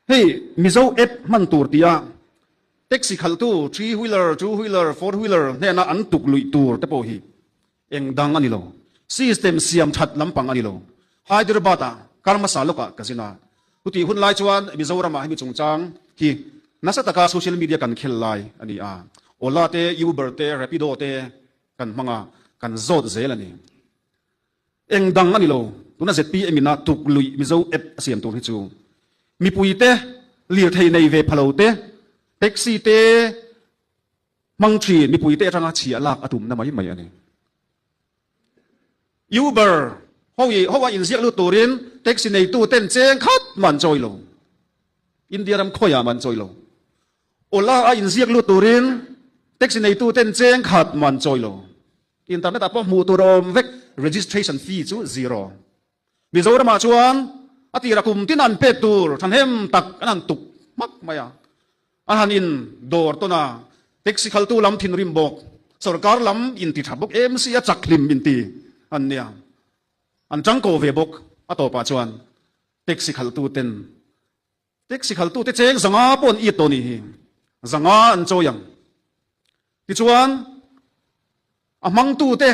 Hei Mizo app hman tur tia taxi khalhtu three wheeler, two wheeler, four wheeler hnena an tukluih tur te pawh hi eng dang a ni lo. System siam that lampang a ni lo. Hyderabad a Karmasa lawkah ka zin a, hutih hun lai chuan Mizoramah hemi chungchang hi nasa taka social media kan khel lai a ni a, Ola te, Uber te, Rapido te kan hmanga kan zawt zel a ni. Eng dang a ni lo, tuna zpm ina tukluih Mizo app a siam tur hi chu mipui te, lirthei nei ve phalo te, taxi te hmang thin mipui te atanga chhia lak a tumna mai mai a ni. Uber ho a inziak lut turin taxi neitu ten cheng khat mah an chawi lo, India ram khawiah mah an chawi lo. Ola a inziak lut turin taxi neitu ten cheng khat mah an chawi lo. Internet ah pawh hmuh tur a awm vek registration fee chu zero. Mizoram ah chuan a tira kum tina an pek tur thahnem tak an han tuk hmak mai a, a han in dawr tawn a, taxi khaltu lam thinrim bawk sawrkar lam in ti tha bawk em sia chak hlim in ti an nia. An changkaw ve bawk a tawpah chuan taxi khaltu ten. Taxi khaltute cheng zanga pawh an iat tawh ni hi zanga an chawi ang. Tichuan, a hmangtute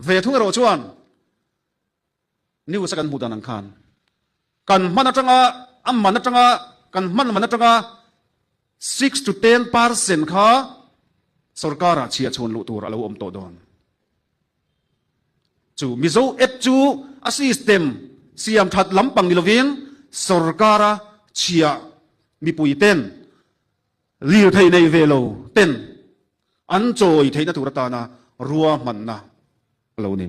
ve thung erawh chuan news-a kan hmuh dan ang khan kan hman atanga, a man atanga, kan hman man atanga six to ten percent kha sorkara chhiahchhuan luh tur a lo awm tawh dawn. chu mizo app chu a system siam that lampang ni lovin sorkara chhia mipui ten lirthei nei ve lo ten an chawi theihna tur atana ruahmanna a lo ni.